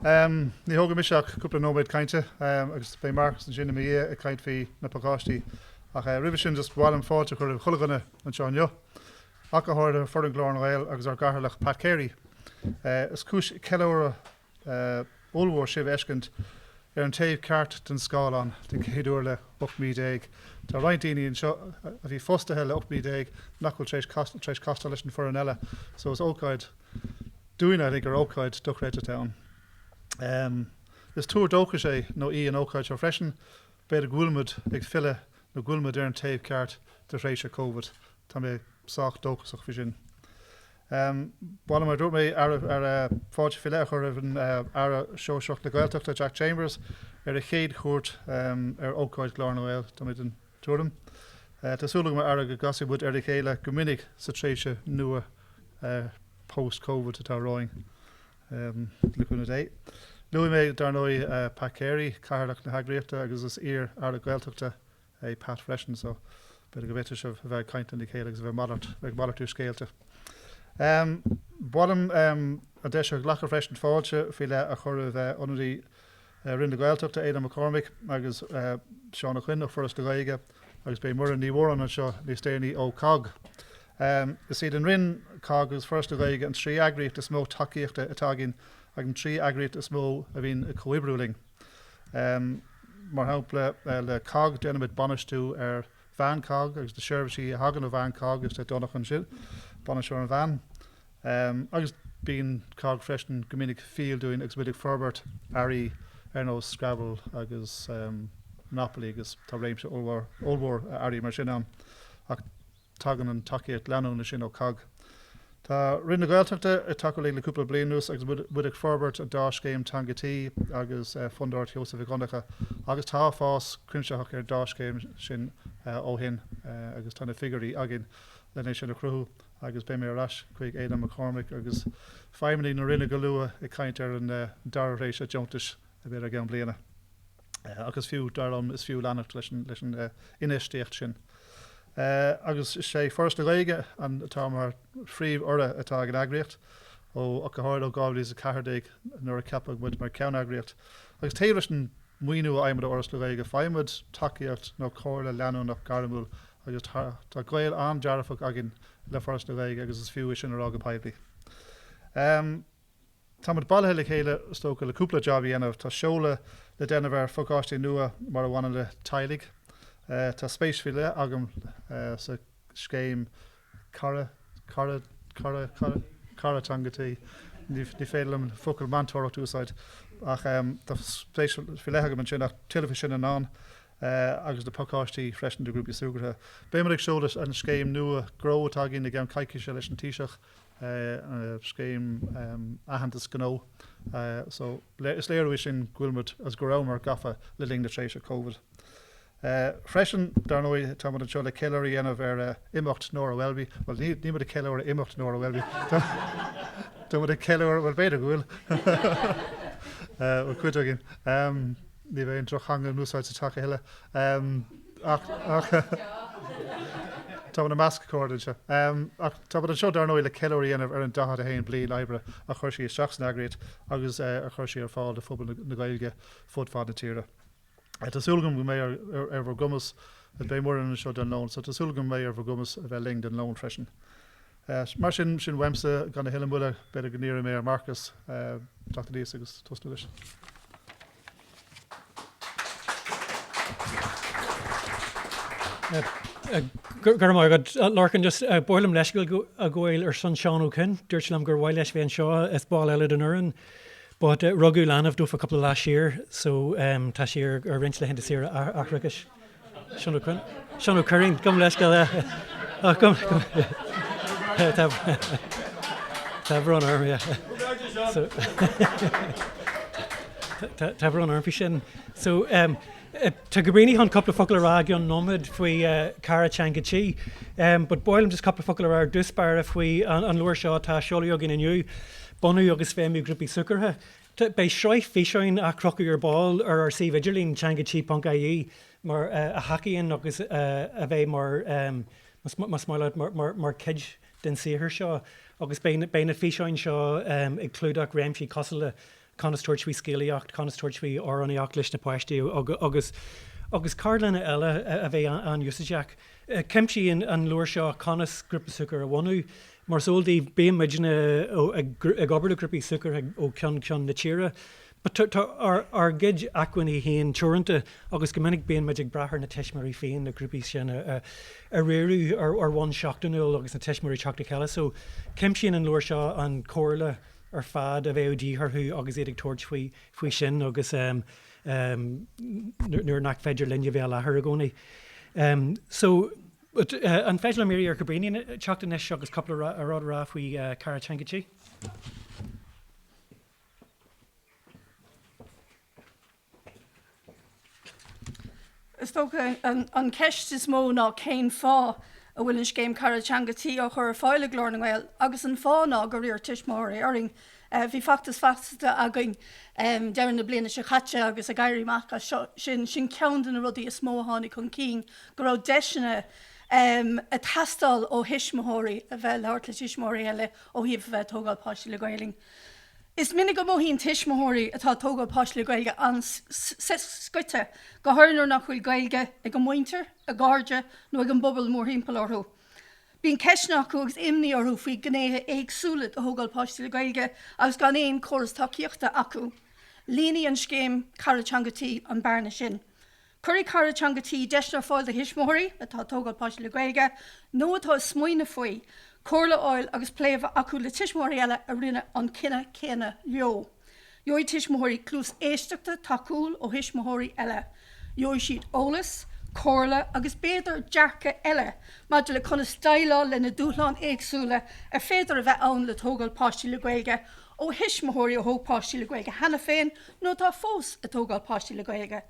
Ní thógfaidh mise ach cúpla nóiméad cainte agus beidh Marcus ansin i mo dhiaidh ag caint faoi na pacáistí. Ach roimhe sin, just ba mhaith liom fáilte a chur roimh chuile dhuine anseo inniu, ach go háirithe foireann Ghlór na nGael agus ár gCathaoirleach Pat Carey. Is cúis ceiliúradh ollmhór sibh a fheiscint ar an taobh ceart den scáileán den chéad uair le 18 mí. Tá roinnt daoine anseo a bhí fostaithe le 18 mí nach bhfuil tar éis castáil leis an bhfoireann eile, so is ócáid dúinn I think ar ócáid dochreidte atá ann. Is tuar dóchais é nó í an ócáid seo freisin, b'fhéidir go bhfuilimid ag filleadh nó go bhfuilimid ar an taobh ceart de thréimhse Covid, tá mé sách dóchasach faoi sin. Ba mhaith liom, mar a dúirt mé, fáilte faoi leith a chur roimh an Aire Sóisearach na Gaeltachta, Jack Chambers, ar a chéad chuairt ar ócáid Ghlór na nGael. tuairim. Tá súil agam a Aire go gcasfaidh muid ar a chéile go minic sa tréimhse nua post covid atá romhainn. Le cúnamh Dé. Luaigh mé dar ndóigh Pat Carey, Cathaoirleach na heagraíochta agus is iar Aire Gaeltachta é Pat freisin so b'fhéidir go bhféadfadh sibh a bheith ag caint lena chéile agus a bheith ag malartú scéalta. Ba mhaith liom an deis a ghlacadh freisin fáilte faoi leith a chur roimh ionadaí I Roinn na Gaeltachta, Aodhán Mac Cormaic agus Seán Ó Coinn ó Foras na Gaeilge agus beidh Muireann Ní Mhóráin anseo níos déanaí ó cogg. Is iad an Roinn, cogg agus Foras na Gaeilge an trí eagraíocht is mó tacaíochta atá againn agus an trí eagraíocht is mó a bhíonn ag comhoibriú linn. Mar shampla, le cogg déanaimid bainistiú ar veain cogg agus na seirbhísí a thagann ó veain cogg agus tá Donncha anseo, Bainisteoir an Veain, Ehm, agus bíonn cogg freisin go minic fial dúinn agus muid ag forbairt earraí ar nós Scrabble agus, ehm, Monopoly agus tá réimse ollmhór, ollmhór earraí mar sin ann ach tagann an tacaíocht leanúna sin ó cogg. Tá Roinn na Gaeltachta ag tacú linn le cúpla bliain anuas agus muid, muid ag forbairt an dá scéim Teanga Tí agus, eh, Fundúireacht Sheosaimh Mhic Dhonncha agus tá fás cuimsitheach ar an dá scéim sin, eh, ó shin, eh, agus tá na figiúirí againn len é sin a chruthú. agus beidh mé ar ais chuig Aodhán Mac Cormaic agus feidhmeannaigh na Roinne go luath ag caint ar an dara thréimhse deontais a bheidh i gceann bliana ach is fiú, dar liom, is fiú leanacht leis an infheistíocht sin agus is é Foras na Gaeilge atá mar phríomh-urra atá ag an eagraíocht ó ach go háirithe ó 2014 nuair a ceapadh muid mar cheann-eagraíocht agus taobh leis an maoiniú a fhaighimid ó Fhoras na Gaeilge, faighimid tacaíocht nó comhairle leanúnach gairmiúil agus tá gaol an-dearfach againn le Foras na Gaeilge agus is fiú é sin a rá go poiblí. Táimid bailithe le chéile is dócha le cúpla jab a dhéanamh. Tá seoladh le déanamh ar phacáistí nua mar a bhaineann le teaghlaigh. Tá spéis faoi leith agam sa scéim scéim Cara Teanga Tí, ní féidir liom an focal meantóireacht a úsáid ach tá spéis faoi leith agam ansin ach tuilleadh faoi sin anonn agus na pacáistí freisin do ghrúpaí súgartha. Beimid ag seoladh an scéim nua GRÓ atá againn i gcionn coicíse leis an Taoiseach, scéim aitheantas gnó so is léiriú é sin go bhfuilimid agus go rabhamar gafa le linn na tréimhse Covid. é freisin. Dar ndóigh, táimid anseo le ceiliúradh a dhéanamh ar imeacht Nóra Welby. Bhuel, nílimid ag ceiliúradh imeacht Nóra Welby. Táimid ag ceiliúradh, bhuel, b'fhéidir go bhfuil. Bhuel, cuid againn. Ní bheidh aon drochtheanga in úsáid sa teach a thuilleadh. Táimid i measc cairde anseo. Táimid anseo, dar ndóigh, le ceiliúradh a dhéanamh ar an 41 bliain oibre a chuir sí isteach san eagraíocht agus a chuir sí ar fáil do phobal na Gaeilge fud fad na tíre. Tá súil agam go mbeidh ar bhur gcumas, beidh Muireann anseo don lón, so tá súil agam go mbeidh ar bhur gcumas a bheith linn don lón freisin. Mar sin, sin uaimse, gan a thuilleadh moille, b'fhéidir go n-iarrfaidh mé ar Marcus teacht aníos agus tosnú leis. Go raibh maith agat, Lorcán. Just ba mhaith liom leithscéal a ghabháil ar son Seán Ó Coinn. Dúirt sé liom gur mhaith leis bheith anseo, is ball eile den fhoireann. But rugadh leanbh dó cúpla lá siar so tá sé ar roinnt laethanta saoire aithreachais. Seán Ó Cuirrín, gabhaim leithscéal. Tá brón orm, yeah. So tá brón orm faoi sin. So tá Caoilfhionn chun cúpla focal a rá i gcionn nóiméad faoi Cara Teanga Tí, but ba mhaith liom just cúpla focal a rá ar dtús báire faoi an leabhar seo atá á seoladh againn inniu. bunú agus feidhmiú grúpaí súgartha. Beidh sraith físeáin á chrochadh ar ball ar ár suíomh idirlín, Teanga Tí ponc ie, mar a thacaíonn agus a bheidh mar, más maith leat, mar chuid den saothar seo agus beidh na físeáin seo ag clúdach réimsí cosúil le conas tabhairt faoi scéalaíocht, conas tabhairt faoi amhránaíocht leis na páistí agus agus ceardlanna eile a bheidh an-úsáideach. Cuimsíonn an leabhar seo conas grúpa súgartha a bhunú, Mar is eol daoibh, bíonn muidne ag obair le grúpaí súgartha ó cheann ceann na tíre. But ár gcuid acmhainní féin teoranta agus go minic bíonn muid ag brath ar na tuismitheoirí féin na grúpaí sin a riaradh ar bhonn seachtainiúil agus na tuismitheoirí ag teacht le chéile. So, cuimsíonn an leabhar seo an chomhairle ar fad a bheadh de dhíth orthu agus iad ag tabhairt faoi sin agus nuair nach féidir linne bheith i láthair i gcónaí. So. An féidir liom iarraidh ar Cabrini teacht anois agus cúpla rud a rá faoi Cara Teanga Tí? Is dócha an cheist is mó ná cén fáth a bhfuil an scéim Cara Teanga Tí á chur ar fáil ag Glór na nGael agus an fáth ná gur iarr tuismitheoirí orainn Bhí feachtas feasachta againn deireadh na bliana seo caite agus ag éirí amach as sin, sin ceann de na rudaí is mó a tháinig chun cinn, go raibh deiseanna ag teastáil ó thuismitheoirí a bheith ag labhairt le tuismitheoirí eile ó thaobh a bheith ag tógáil páistí le Gaeilge. Is minic go mothaíonn tuismitheoirí atá ag tógáil páistí le Gaeilge an-scoite, go háirithe nuair nach bhfuil Gaeilge ag a muintir, a gcairde nó ag an bpobal mórthimpeall orthu. Bíonn ceisteanna acu agus imní orthu faoi ghnéithe éagsúla de thógáil páistí le Gaeilge agus gan aon chóras tacaíochta acu. Líonfaidh an scéim Cara Teanga Tí an bearna sin. Cuirfidh Cara Teanga Tí deiseanna ar fáil do thuismitheoirí atá ag tógáil páistí le Gaeilge nó atá ag smaoineamh faoi, comhairle a fháil agus plé a bheith acu le tuismitheoirí eile a rinne an cinneadh céanna leo. Gheobhaidh tuismitheoirí cluas éisteachta tacúil ó thuismitheoirí eile. Gheobhaidh siad eolas, comhairle agus b'fhéidir dearcadh eile maidir le conas déileáil leis na dúshláin éagsúla ar féidir a bheith ann le tógáil páistí le Gaeilge ó thuismitheoirí a thóg páistí le Gaeilge cheana féin nó atá fós ag tógáil páistí le Gaeilge.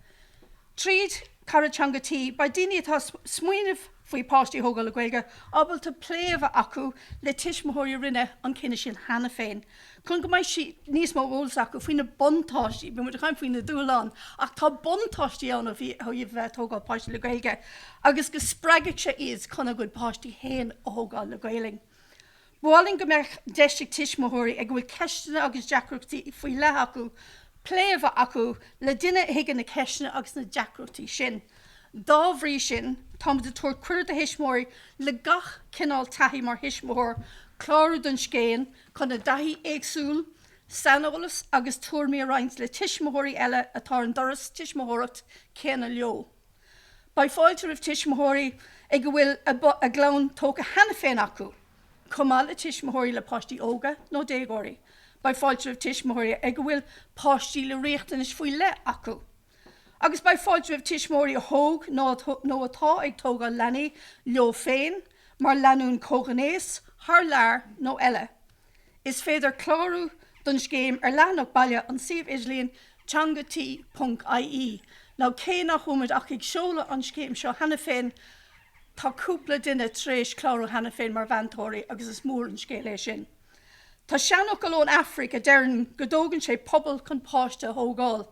Tríd Cara Teanga Tí, beidh daoine atá ag smaoineamh faoi páistí a thógáil le Gaeilge ábalta plé a bheith acu le tuismitheoirí a rinne an cinneadh sin cheana féin chun go mbeidh níos mó eolas acu faoi na buntáistí, beidh muid ag caint faoi na dúshláin ach tá buntáistí ann ó thaobh a bheith ag tógáil páistí le Gaeilge agus go spreagfadh sé iad chun a gcuid páistí féin a thógáil le Gaeilg. Ba mhaith linn go mbeadh deis ag tuismitheoirí ag a bhfuil ceisteanna agus deacrachtaí faoi leith acu plé a bheith acu le duine a thuigeann na ceisteanna agus na deacrachtaí sin. Dá bhrí sin, táimid ag tabhairt cuireadh do thuismitheoirí le gach cineál taithí mar thuismitheoir clárú don scéim, chun a dtaithí éagsúil, saineolas agus tuairimí a roinnt le tuismitheoirí eile atá ar an dturas tuismitheoireacht céanna leo. Beidh fáilte roimh tuismitheoirí ag a bhfuil a gclann tógtha cheana féin acu, chomh maith le tuismitheoirí le páistí óga nó déagóirí. Beidh fáilte roimh tuismitheoirí ag a bhfuil páistí le riachtanais faoi leith acu. Agus beidh fáilte roimh tuismitheoirí a thóg nó atá ag tógáil leanaí leo féin, mar lánúin comhghnéis, thar lear nó eile. Is féidir clárú don scéim ar leathanach baile an suíomh idirlín Teanga Tí ponc ie. Cé nach bhfuil muid ach ag seoladh an scéim seo cheana féin tá cúpla duine tar éis clárú cheana féin mar mheantóirí agus is mór an scéal é sin. Tá seanfhocal ón Afraic a deireann go dtógann sé pobal chun páiste a thógáil.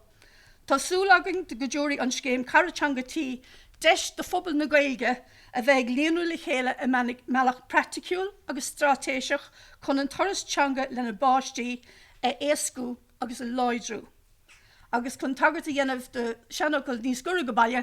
Tá súil againn go dtabharfaidh an scéim Cara Teanga Tí deis do phobal na Gaeilge a bheith ag líonrú le chéile i mbealach praiticiúil agus straitéiseach chun an turas teanga lena bpáistí a éascú agus a láidriú agus chun tagairt a dhéanamh do sheanfhocal níos gaire go baile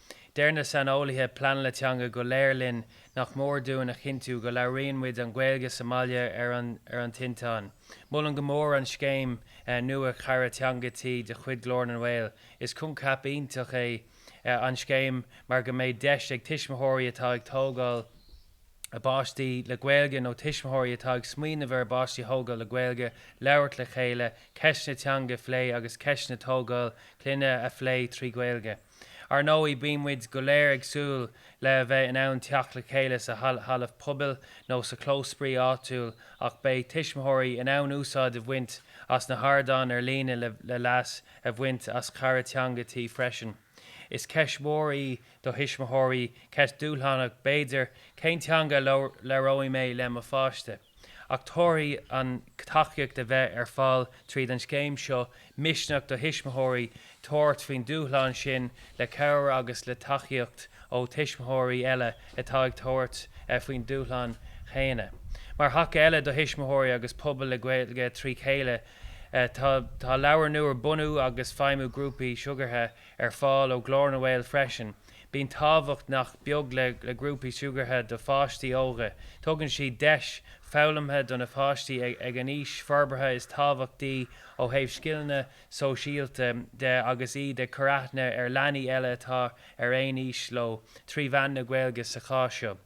Deir na saineolaithe pleanála teanga go léir linn nach mór dúinn a chinntiú go labhraíonn muid an Ghaeilge sa mbaile ar an tinteán. Molaim go mór an scéim nua 'Cara Teanga Tí' de chuid Ghlór na nGael. Is coincheap iontach é an scéim mar go mbeidh deis ag tuismitheoirí atá ag tógáil a bpáistí le Gaeilge nó tuismitheoirí atá ag smaoineamh ar a bpáistí a thógáil le Gaeilge labhairt le chéile, ceisteanna teanga a phlé agus ceisteanna tógáil clainne a phlé trí Ghaeilge. Ar ndóigh, bíonn muid go léir ag súil le a bheith in ann teacht le chéile sa halla pobail nó sa chlós spraoi áitiúil ach beidh tuismitheoirí in ann úsáid a bhaint as na hardáin ar líne le leas a bhaint as cara teanga tí freisin. Is ceist mhór í do thuismitheoirí, ceist dhúshlánach b'fhéidir, cén teanga a labhróidh mé le mo pháiste? ach tabharfaidh an tacaíocht a bheidh ar fáil tríd an scéim seo misneach do thuismitheoirí tabhairt faoin dúshlán sin le cabhair agus le tacaíocht ó thuismitheoirí eile atá ag tabhairt faoin dúshlán chéanna. Mar thaca eile do thuismitheoirí agus pobal na Gaeilge trí chéile tá leabhar nua 'Bunú agus Feidhmiú Grúpaí Súgartha' ar fáil ó Ghlór na nGael freisin, Bíonn tábhacht nach beag le grúpaí súgartha do pháistí óga. Tugann siad deis foghlamtha do na páistí ag an aois forbartha is tábhachtaí ó thaobh scileanna sóisialta de agus iad ag cur aithne ar leanaí eile atá ar aon aois leo trí mheán na Gaeilge sa chás seo.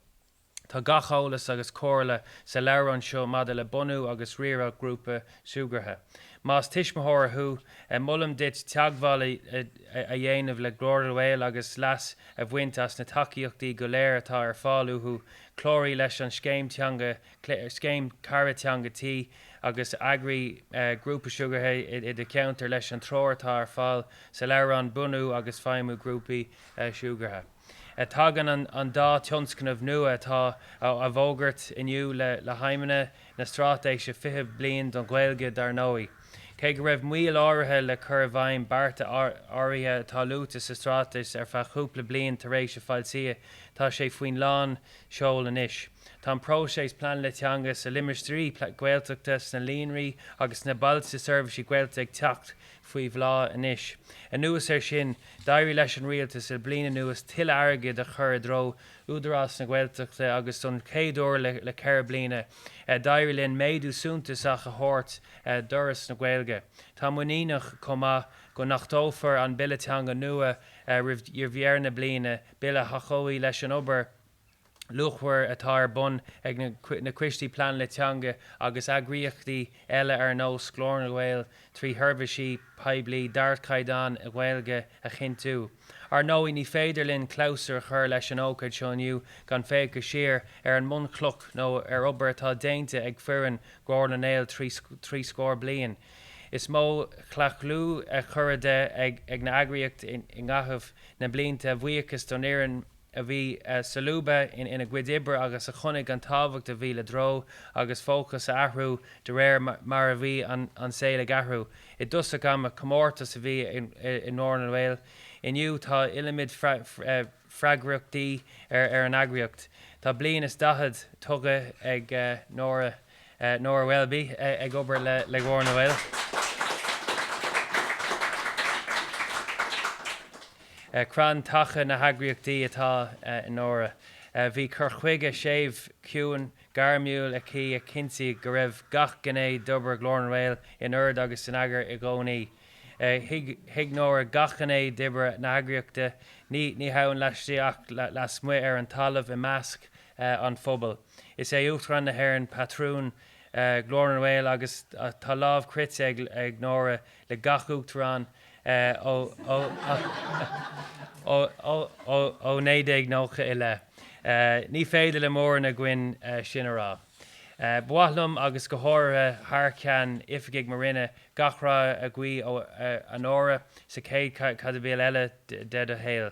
Tá gach eolas agus comhairle sa leabhrán seo maidir le bunú agus riaradh grúpa súgartha. Más tuismitheoir thú, molaim duit teagmháil a dhéanamh le Glór na nGael agus leas a bhaint as na tacaíochtaí go léir atá ar fáil uathu, cláraigh leis an Scéim Teanga, Scéim Cara Teanga Tí, agus eagraigh grúpa súgartha i do cheantar leis an treoir atá ar fáil sa leabhrán Bunú agus Feidhmiú Grúpaí Súgartha. Tagann an dá thionscnamh nua atá á bhfógairt inniu le haidhmeanna na Straitéise 20 Bliain don Ghaeilge, dar ndóigh. Cé go raibh moill áirithe le cur i bhfeidhm bearta áirithe atá luaite sa Straitéis ar feadh chúpla bliain tar éis a foilsithe, tá sé faoi lán seoil anois. Tá an próiseas Pleanála Teanga sna Limistéirí Gaeltachta, sna Líonraí agus sna Bailte Seirbhíse Gaeltachta ag teacht faoi bhláth anois. Anuas air sin, d'éirigh leis an Rialtas le bliain anuas tuilleadh airgid a chur i dtreo Údarás na Gaeltachta agus don chéad uair le ceithre bliana, d'éirigh linn méadú suntasach a thabhairt d'Fhoras na Gaeilge. Táim muiníneach chomh maith go n-achtófar an Bille Teanga nua roimh dheireadh na bliana, Bille a thacóidh leis an obair, luachmhar atá ar bun ag na coistí pleanála teanga agus eagraíochtaí eile ar nós Ghlór na nGael trí sheirbhísí poiblí d'ardchaighdeán i nGaeilge a chinntiú. Ar ndóigh, ní féidir linn clabhsúr a chur leis an ócáid seo inniu gan féachaint siar ar an mbunchloch nó ar obair atá déanta ag foireann Ghlór na nGael le trí scór bliain. Is iomaí claochlú curtha de ag an eagraíocht i gcaitheamh na mblianta a bhuíochas don fhoireann a bhí solúbtha ina gcuid oibre agus a chonaic an tábhacht a bhí le treo agus fócas a athrú de réir mar a bhí an saol ag athrú. I dtosach ama, comórtas a bhí i nGlór na nGael. Inniu, tá iliomad freagraíochtaí ar an eagraíocht. Tá bliain is daichead tugtha ag Nóra. Nóra Welby ag obair le Glór na nGael. Crann taca na heagraíochta atá i Nóra. Bhí cur chuige séimh, ciúin, gairmiúil aici a chinntigh go raibh gach gné d'obair Ghlór na nGael in ord agus in eagar i gcónaí. Thuig Nóra gach gné d'obair na heagraíochta, ní hamháin laistigh ach lasmuigh ar an talamh i measc an phobail. Is é Uachtarán na hÉireann patrún Ghlór na nGael agus tá lámh croite ag Nóra le gach Uachtarán ó 1990 i leith. Ní féidir le mórán againn sin a rá. Ba mhaith liom, agus go háirithe thar ceann oifigigh mo Roinne, gach rath a ghuí ort, a Nóra, sa chéad chaibidil eile de do shaol.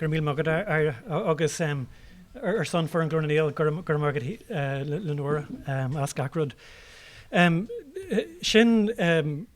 Go raibh míle maith agat agus ar son foireann Glór na nGael go raibh maith agat le Nóra as gach rud. Sin